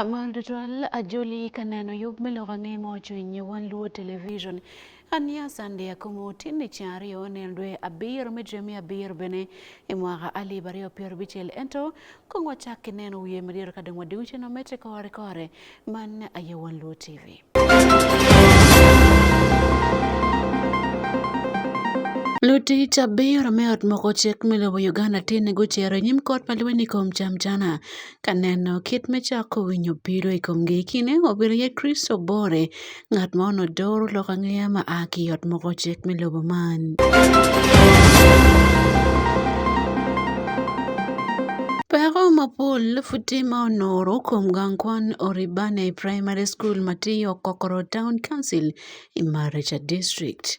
Amal Dutual ajoli kaneno yub miluongo ang'e mochwiny wan luo television Ania Sande akomo tinni ca aryo nel dwe abiro me jwe me abiro bene i mwaka alip aryo pyero bicel ento kong wacak ki neno wiye madiro ka dong wadiwu cen mamete kore kore man aye wan luo tv Lutic abiro me ot moko cik me lobo Uganda tye ni gucito i nyim kot ma lweny i kom Jamjana Kaneno kit michako winyo biro i kom gikine obedo ye Kristo bore ngat ma ono doro lok angeya ma a ki yot moko cek me lobo man. Peko mapol futi ma onoro kom gang kwan Oribane Primary School matiyo Kokoro Town Council i Maricha District.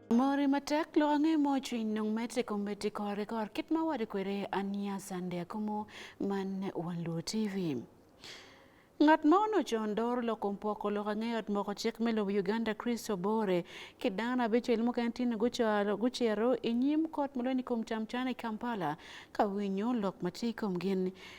Mori matek lo ang'e mo cwiny nung me tiko me tiko rekor kit ma wadi kwere ania sande akumo man wan lo TV. Ngat ma ono con dor loko mpoko loko ang'eyo ot moko cik me lobo Uganda Chris Obore ki dano abicel mukene tye gucaro gucero i nyim kot ma lweny i kom cam can i Kampala ka winyo lok ma tye i kom gin.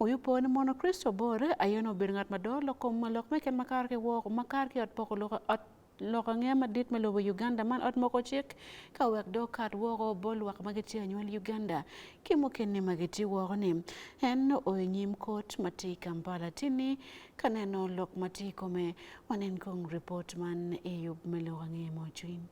Uyupo ni mono Kristo bor aye no bedo ngat mador lok kom malok me ken makar ki wok makar ki ot poko loko ot lok ange madit me lobo Uganda man ot moko cik ka wek do kat woko bol lwak ma gitye anywal Uganda ki mukene ma gitye woko ni en oyo nyim kot ma tye i Kampala tini Kaneno lok mati kome wanen kong report man eyub melo wang'e mochwin.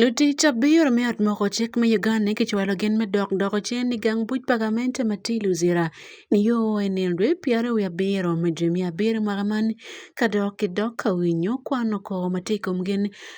Lutich abiro mi ot moko chik mi Uganda kichwalo gin me dok doko cen i gang buc pa gamente ma tye Luzira nio i nino dwe pyere wiye abiro me dwe miya abiro mwaka man ka dok kidok ka winyo kwano kor ma tye i kom gin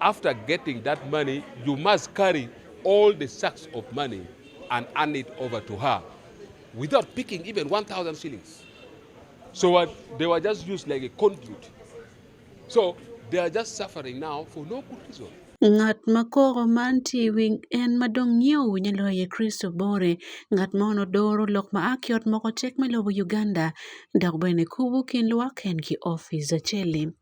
After getting that money, you must carry all the sacks of money and hand it over to her without picking even 1,000 shillings. So what, they were just used like a conduit. So they are just suffering now for no good reason. Ng'at ma koro man tiwi en ma dong' nyiewo nyalo ye Kristo bore. Ng'at ma ono doro lok ma aki ot moko tek me lobo Uganda dok bene kubu kin lwak en ki office achele.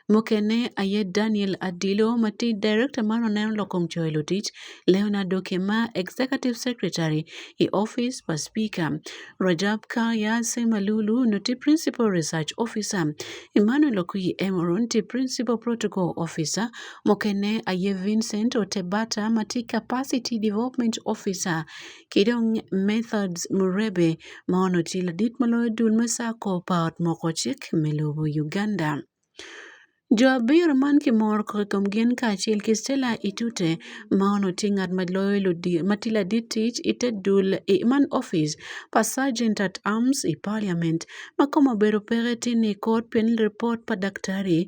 Mokene aye Daniel Adilo mati Director mar Oneno Lokom Joelo Tich, Leonardo Kema Executive Secretary e Office for Speaker, Rajab Kaya Semalulu noti Principal Research Officer, Emmanuel Okuyi Emoro nti Principal Protocol Officer, Mokene aye Vincent Otebata mati Capacity Development Officer, kidong Methodists Murebe ma ono ti ladit ma loyo dul me sako pa ot moko cik me lobo Uganda. Jo abiro man ki mor kokom gin kacel ki Stella Itute ma ono ti ngat ma loyo ludi ma ti ladit tic ite dul i man office pa Sergeant at Arms i Parliament ma kome obedo peke ti ni kot pien report pa daktari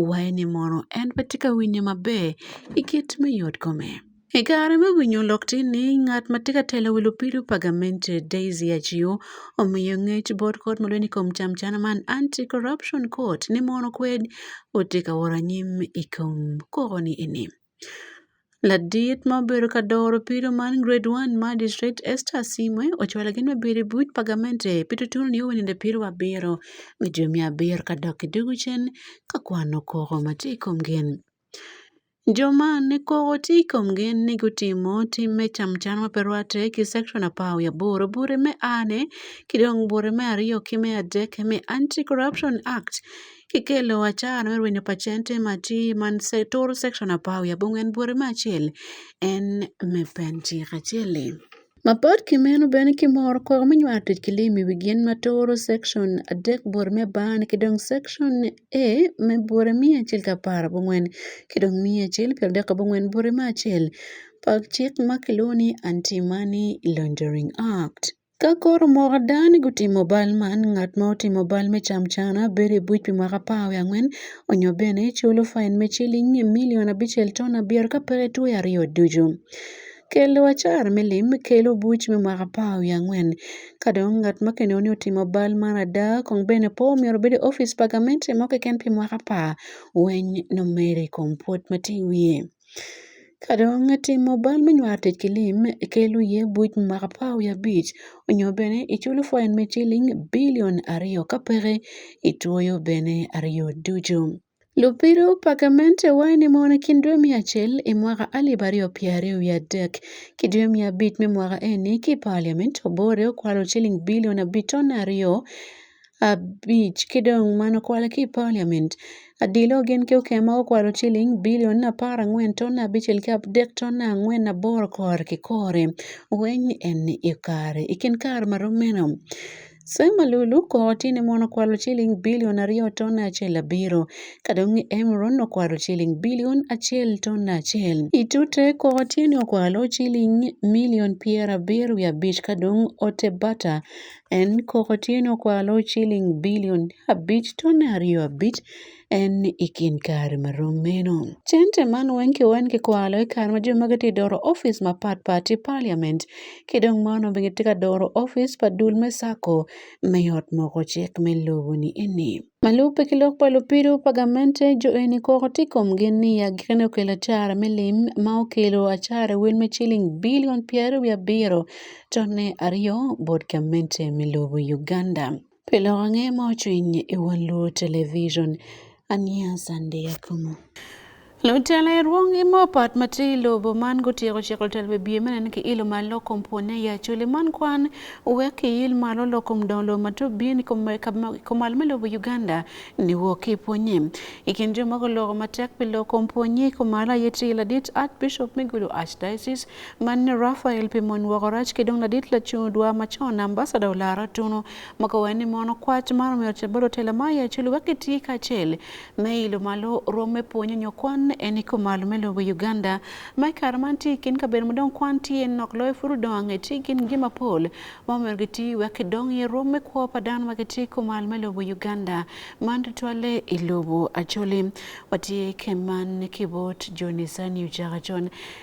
waye ni mono en pe ti ka winye maber i kit me yot kome. E kare ma winyo olok tin ni ngat ma tye ka telo wil opiro Pagamente Daisy Achiu omiyo ngec bot kot ma lweny i kom camcana man Anti Corruption Court ni mono kwed otye ka woro anyim i kom koko ni eni. Ladit ma obedo ka doro piro man Grade 1 Magistrate Esther Asimwe ocwalo gin me biro i buc Pagamente pi tutunu ni owininde piro wa abiro me jami abiro ka dok ki dugu cen ka kwano koko ma tye i kom gin. Joma ne kok oti komgi ni gutimo tim me camcan ma pe rwatte ki Cekcon apar wiye aboro bure me ane ki dong bure me aryo ki me adek me Anti-Corruption Act kikelo acara me rwenyo pa cente ma tye ma turu Cekcon apar wiye abongwen bure me acel en me pen cik acel-li. Mapod kimen u bene ki mor kong me nyo atic ki lim i wi gin ma turo cekcon adek bot me bar-ni ki dong cekcon A me bote miya acel ki apar abongwen ki dong miya acel pi adek abongwen bote me acel pa cik ma kilwongo ni Anti Money Laundering Act. Ka koro omoko ada ni gutimo bal man, ngat ma otimo bal me camcana bedo i buc pi mwaka apar wiye angwen nyo bene culo fain me ciling milion abicel ton abiro ka peke two aryo ducu. Kel acar me lim, kel obuc me mwaka apar wiye angwen. Ka dong ngat ma kineno ni otimo bal man ada kong bene pe omyero obed i opic pa gamente mo keken pi mwaka apar weny nongo mere i kom pwod ma tye i wiye. Ka dong itimo bal me nywako tic ki lim, kel iye obuc me mwaka apar wiye abic nyo bene i culo fain me ciling bilion aryo ka peke itwoyo bene aryo ducu. Lubiro Pakemente wae ni mon kin dwe mia acel i mwaka alip aryo pye aryo wiye adek ki dwe mia abic me mwaka eni ki i paliament obore okwalo ciling bilion abiton aryo abic ki dong man okwale ki i paliament adilo gin ki okema gukwalo ciling bilion apar angwen ton abicel ki adek ton angwen aboro kore ki kore weng eni i kare i kin kare ma rom meno Sema Lulu koti ne mon okwalo chiling bilion ariyo ton achiel abiro. Kadong ni Emron okwalo chiling bilion achiel ton achiel. Itute koti ne okwalo chiling milion piero abiro gi abich kadong ote bata en koti ne okwalo chiling bilion abich ton ariyo abich. en ni i kin kare ma rom meno. Cente man wenke wen ki kwalo i kare ma jo magi ti doro ofis ma pat pat i parliament ki dong man obi giti ka doro ofis pa dul me sako me yot moko cik me lobo ni eni. Malube ki lok pa lupido pa gamente jo eni koko ti kom gin ni ya gikene okelo acara me lim ma okelo acara wel me ciling bilion pyero wi abiro to ne aryo bot gamente me lobo Uganda. Pile wang'e ma ochwiny e wang' luo television. Ania sande yakumo. Lutela e ruong imo pat mati lobo man gotieko chiko lutela be biye menen ki ilo ma lokom pone ya chuli man kwan uwek ki il malo lokom dong lo ma tup biye ni komal me lobo Uganda ni wo ki ponye ikin jo moko loko matek pi lokom ponye komal aye ti iladit Archbishop me gudo Archdiocese Man Rafael pi mon woko rac ki dong ladit lacung dwa ma co ambasada olaro tunu moko wen ni mono kwac ma romero ca balo tela ma ya culu wek giti kacel me ilo malo rwom me pwonyo nyo kwan en i kumalo me lobo Uganda ma i kare man ti kin kabedo ma dong kwan tye nok loyo puru dong ange ti gin gi mapol ma omero giti wek gidong i rwom me kwo pa dano ma giti kumalo me lobo Uganda man tutwalle i lobo Acholi watye keman kibot Johnny Sani Uchaka John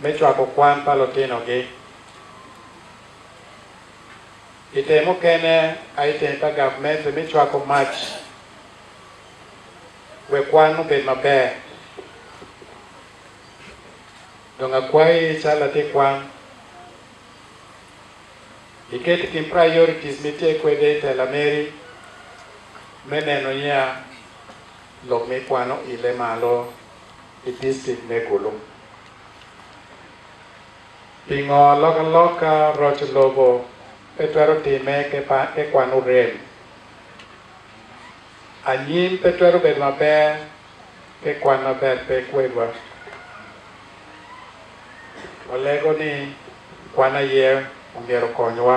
Me cwako kwan pa lutinogi, i te mukene a i teng pa gavmente me cwako mac wek kwan obed maber. Dong akwayi cal latin kwan, iket i kin priorities ma itye kwede i tela meri me neno niya lok ma ikwano oile malo i district me Gulu. Pingo loka loka roc lobo pe twero time ki kwano rem. Anyim pe twero bedo maber ki kwan maber pe kwedwa. Walego ni kwan aye omyero okonywa.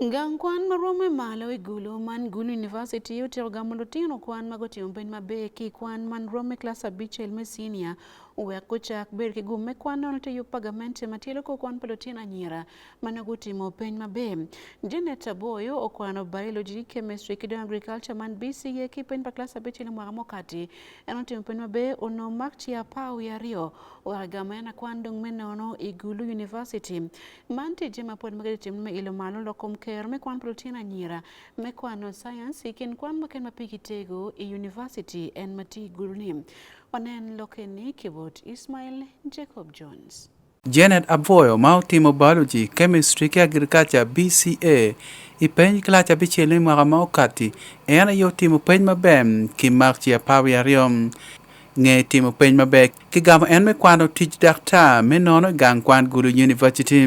Gang kwan ma romo e malo i Gulu man Gulu University otero gamo lutino kwan ma gutimo bed maber ki kwan man romo e klas abicel me senior owek gucak ber ki gum me kwan nono te yub pagamente ma tye loko kwan pa lutino anyira ma nongo gutimo peny maber. Janet Aboyo okwano biology, chemistry ki dong agriculture man BCA ki peny pa klas abicel i mwaka mukati. En otimo peny maber onongo mak ci apar wiye aryo owek gamo en akwan dong me nono i Gulu University. Man tije ma pod magari tim me ilo malo lokom ker me kwan protein anyira me kwano science ikin kwan maken ma pigi tego e university en mati guruni. Wanen lokeni kibot Ismail Jacob Jones. Janet Abwoyo ma otimo biology, chemistry ki agriculture BCA i peny kilac abicel i mwaka ma okati en aye otimo peny maber ki mak ci apar wiye aryo. Nge timo peny maber Kigamo en me kwano tic daktar me nono i gang kwan Gulu University.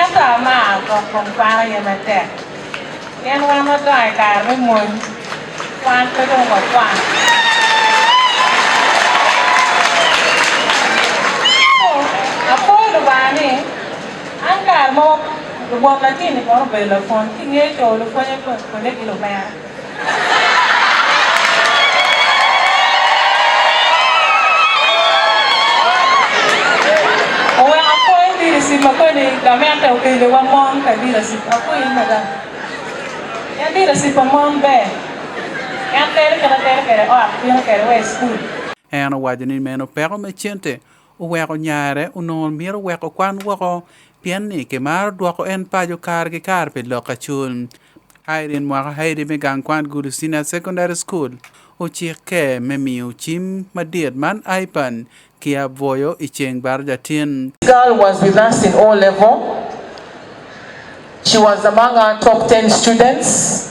Ento amar dok kom kwano ye matek. Pien wan wadongo i kare me mony. Wan pe dong wakwan. Apol Lubanga ni an kare mo lubwot latin ni kono obedo lapwony. Kingeyo co lupwonye kwede ki lumera. En owaco ni meno peko me cente oweko nyare onongo mito weko kwan woko pien ni kimaro dwoko en paco kare ki kare pi lok acul Irene mwaka Haidi me gang kwan Gulu Senior Secondary School ocikke me miyo cim madit man Ipan ki aboyo i ceng baro jatin. Girl was with us in O level. She was among our top 10 students.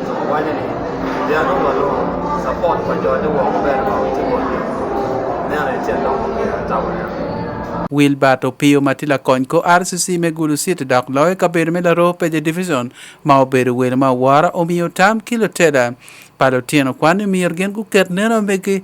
Wanya ni jano malo support kwa jode wa ber ma utimo ni. Ne ana chendo ko ya tawanya. Wilbert Opiyo ma tye lakony ko RCC me Gulu City dok loyo kabedo me Laroo Peje Division ma obedo welo ma wora omiyo tam ki luteda pa lutino kwan ni myero gin guket neno megi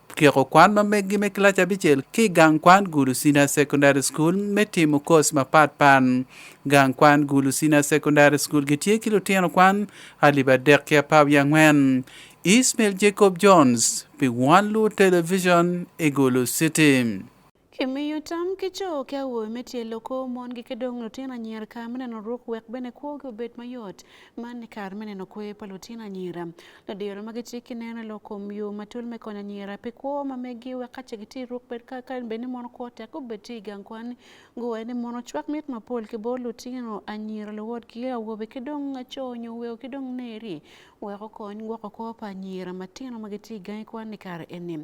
tyeko kwan ma meggi me kilac abicel ki gang kwan Gulusina Secondary School me timo kos mapat pat. Gang kwan Gulusina Secondary School gitye ki lutino kwan alip adek ki apar wiye angwen. Ismail Jacob Jones pi One Lu Television i Gulu City. Kimiyo tam ki co ki awobe me tye loko mon gike dong lutino anyira kare me neno ruk wek bene kwogi obed mayot. Man ni kare me neno kwe pa lutino anyira. Ladiro ma gitye ki neno lok kom yo matul me konyo anyira pi kwo ma megi wek kace gitye ruk bed ka ka bed ni mon kwo tek gubed tye i gang kwan. Guwe ni mon ocwak mit mapol ki bor lutino anyira luwotgi awobe ki dong co nyo weo ki dong neri wek okony gwoko kwo pa anyira matino ma gitye i gangi kwan ni kare eni.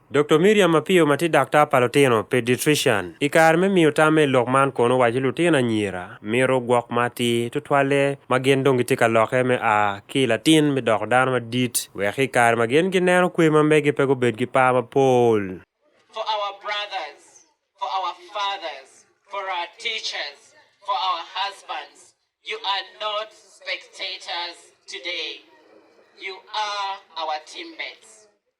Dr. Miriam Apio ma tye daktar pa lutino, pediatrician, i kare me miyo tamme i lok man kono owaco lutino anyira mito gwok ma atir tutwalle ma gin dong gitye ka lokke me a ki i latin me doko dano madit wek ki i kare ma gin gineno kwe ma megi pe gubed ki par mapol. for our brothers, for our fathers, for our teachers, for our husbands. You are not spectators today. You are our teammates.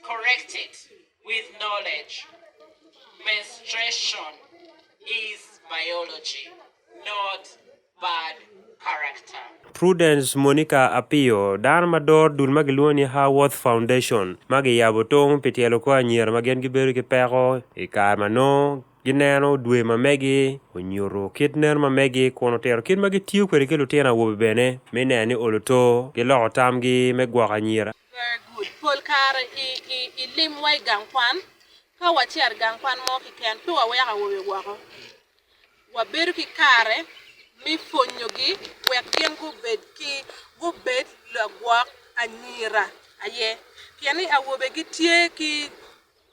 correct it with knowledge. Menstruation is biology, not bad character. Prudence Monica Apio, dan mador dul ma giluongo ni Haworth Foundation ma giyabo tong pi tyelo kor anyira ma gin gibedo ki peko i kare ma nongo gineno dwe ma megi onyuto kit nen ma megi kun otero kit ma gitiyo kwede ki lutino awobe bene me neno ni oluto giloko tamgi me gwoko anyira Very good. Pol kare i, i, i lim wa i gang kwan. Ka wacer gang kwan mo kiken, pe waweko awobe woko. Wabedo ki kare me pwonyogi wek gin gubed ki gubed lagwok anyira aye. Pien ni awobe gitye ki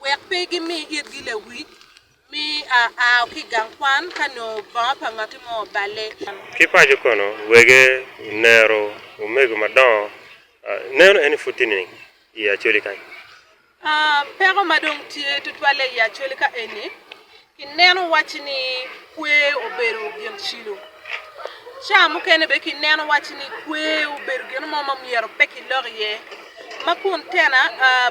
Wek pe gimi itgi lawic me aa ki i gang kwan ka nongo bongo pa ngati mo oballe. Ki paco kono, wege onero omego madongo ah, neno eni pud tye nining i acoli kany Ah, peko ma dong tye tutwalle i acoli ka eni kineno wacci ni kwe obedo gin cilo ca mukene be kineno wacci ni kwe obedo gin mo ma myero pe kilok iye ma kun tena ah,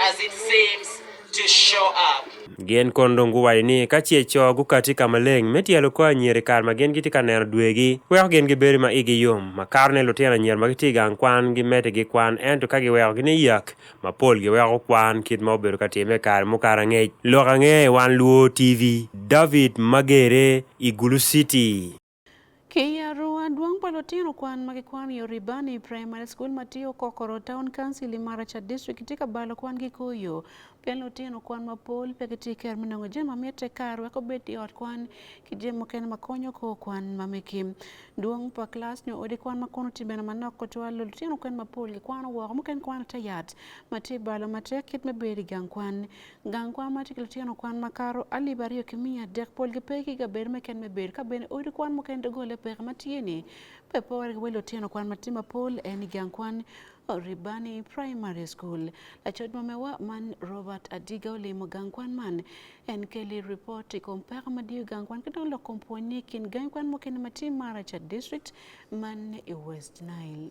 as it seems to show up. Gin kon dong guwaco ni ka ce co gukati ka maleng me tyelo kor anyira i kare ma gin gitye ka neno dwegi, weko gin gibedo ma igi yom. Makarone lutino anyira ma gitye i gang kwan gimedde gikwan ento ka giwekogi ni yak, mapol giweko kwan kit ma obedo ka timme i kare mukato angec. Lok ange i Wan Luo TV, David Magere i Gulu City. Kiyaru aduong' palo tino kwan ma kikwan yo Ribani Primary School matiyo kokoro Town Council i Maracha District tye ka balo kwan ki koyo pe lutino kwan mapol pe gitye i kero me nongo jami ma mitte kar wek obed i ot kwan ki jami mukene ma konyo kor kwan ma megi dwong pa kilac nyo odi kwan ma kono tye bene manok tutwal lutino kwan mapol gikwano woko mukene kwano te yat ma tye balo matek kit me bedo i gang kwan Gang kwan ma tye ki lutino kwan ma kato alip aryo ki miya adek pol ki pe ki kabedo meken me bedo ka bene odi kwan mukene doggolle peke ma tye ni pe pore ki wa lutino kwan ma tye mapol en i gang kwan Ribani Primary School. Lacoc ma mewa man Robert Adiga olimo gang kwan man. En keli report i kom peko ma diyo gang kwan ki dong lok kom pwony ni kin gang kwan mukene ma tye Maracha District man i West Nile.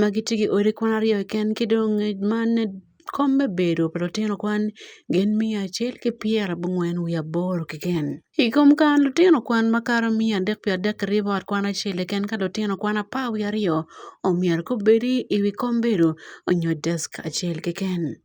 ma giti gi odi kwan aryo keken ki dong ma kom me bedo pa lutino kwan gin miya acel ki pyera bungwen wiye aboro keken i kom kare lutino kwan ma kato miya adek pi adek kirye bot kwan acel keken ka lutino kwan apar wiye aryo omyero gubedi i wi kom bedo onyo desk acel keken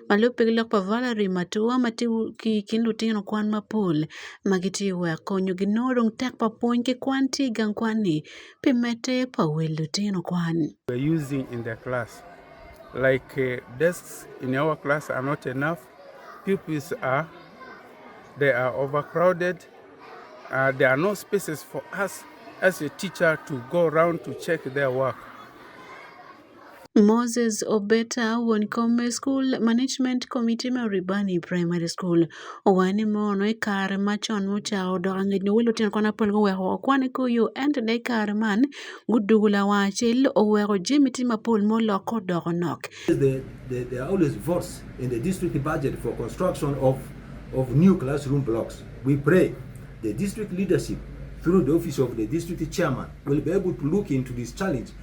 ma lupe gi lok pa Valerie Matua ma tye ki i kin lutino kwan mapol ma gitye ka wek konyogi nongo dong tek pa pwony ki kwan tye i gang kwan-ni pi medde pa wel lutino kwan. using in the class. Like uh, desks in our class are not enough. Pupils are they are overcrowded. Uh, there are no spaces for us as a teacher to go around to check their work. Moses Obeta wuon kom e skul Management Committee ma Ribani Primary School owayo ni mono e kar machon muchawo dok ang'ech no welo tino kona pon goweko okwane koyo ento de kar man gudugula wachel oweko jemi ti mapol molok kodoko nok. There, there, there are always votes in the district budget for construction of, of new classroom blocks. We pray the district leadership through the office of the district chairman will be able to look into this challenge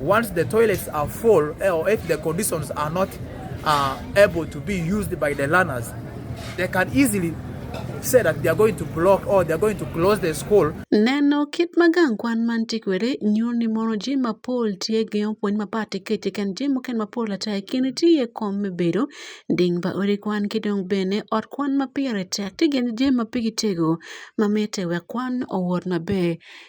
Once the toilets are full eh, or if the conditions are not uh, able to be used by the learners, they can easily say that they are going to block or they are going to close the school. Neno kit magang kwan man tikwere nyo ni mono ji ma pol tie gi opwony ma pati kete kan ji mo ken ma pol ata e kini ti e kom me bedo ding ba ori kwan ki dong bene ot kwan ma pire tek ti gen ji ma pigi tego ma mete we kwan owor ma be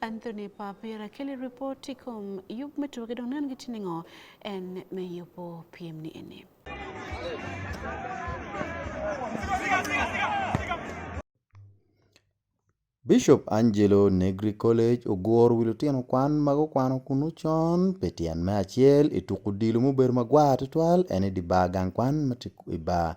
Anthony Papira kele ripoti kom yup metuoge dong nan gitini ngo en me yupo piem ni ene. Bishop Angelo Negri College ogwor wi lutino kwan ma gukwano kunu con pi tyen me acel i tuko odilo mubedo magwar tutwal en i di bar gang kwan ma tye i bar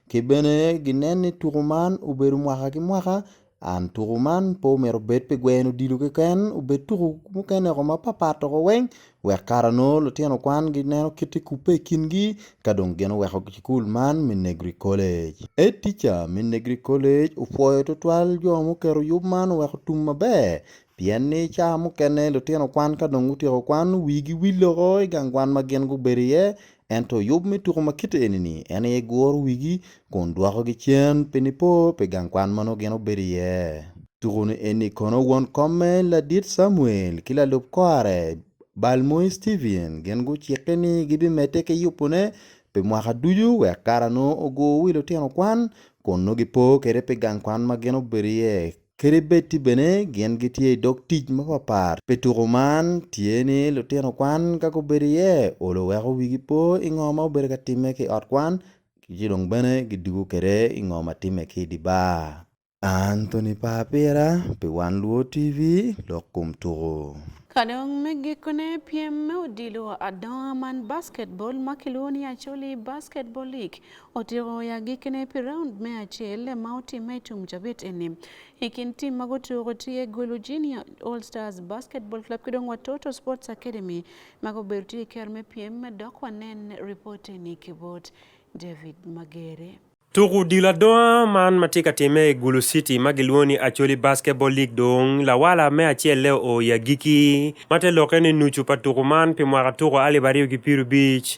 Ki bene ginen ni tuko man obedo mwaka ki mwaka and tuko man pe omyero obed pi gweno odilo keken obed tuko mukene ko mapat pat oko weng wek kara nongo lutino kwan gineno kiti kubbe i kingi ka dong gin oweko cukul man me negri kolec Head teacher me negri kolec opwoyo tutwal jo muketo yub man oweko tum maber pien ni ca mukene lutino kwan ka dong gutyeko kwan wigi wil loko i gang kwan ma gin gubedo iye Ento yub me tuko ma kite eni-ni en aye guro wigi kun dwokogi cen pi nipo pi gang kwan ma nongo gin obedo iye. Tuko-ni eni kono won komme ladit Camuel ki lalub kore Balmoe Stephen gin gucikke ni gibimedde ki yubone pi mwaka ducu wek kara nongo ogur wi lutino kwan kun nongo gipo kwede pi gang kwan ma gin obedo iye. Kadi bed tye bene gin gitye i dog tic mapatpat pi tuko man, tye ni lutino kwan ka gubedo iye olo weko wigi po i ngo ma obedo ka timme ki i ot kwan ci dong bene gidwogo kwede i ngo ma timme ki i dye bar. Anthony par pira pi Wan Luo TV lok kom tuko. Ka dong me gikone, pyem me odilo adonga man basketball ma kilwongo ni Acholi Basketball League Otigo ya gikene pi raund me achiel ma otime e tung jabet eni. E kind tim mago otigo tiye Gulu Junior All Stars Basketball Club kidong Watoto Sports Academy mago ber tiye ker me piem dok wanen ripot eni kibot David Magere. Tuku dilo adowa man ma tye ka timme i Gulu City ma gilwongo ni Acholi Basketball League dong lawala me acel le oo i agikki ma te lokke ni nucu pa tuku man pi mwaka tuku alip aryo ki pyero abic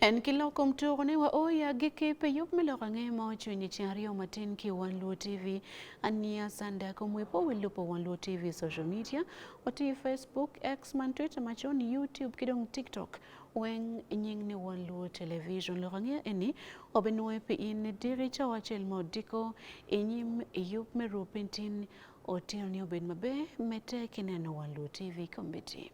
En ki loko mtuko ne wa oya gi kipe yop mi loko ang'e mo chunyi ci aryo matin ki wan luo tv ania sanda ko mwe po wi lupo wan luo tv social media Wati Facebook, X man Twitter machon, YouTube kidong TikTok weng nying ni wan luo television lo kange eni obe nuwe pi in diri cha wachel mo diko inyim yup me rupin tin otiyo ni obed mabe mete kineno wan luo TV committee.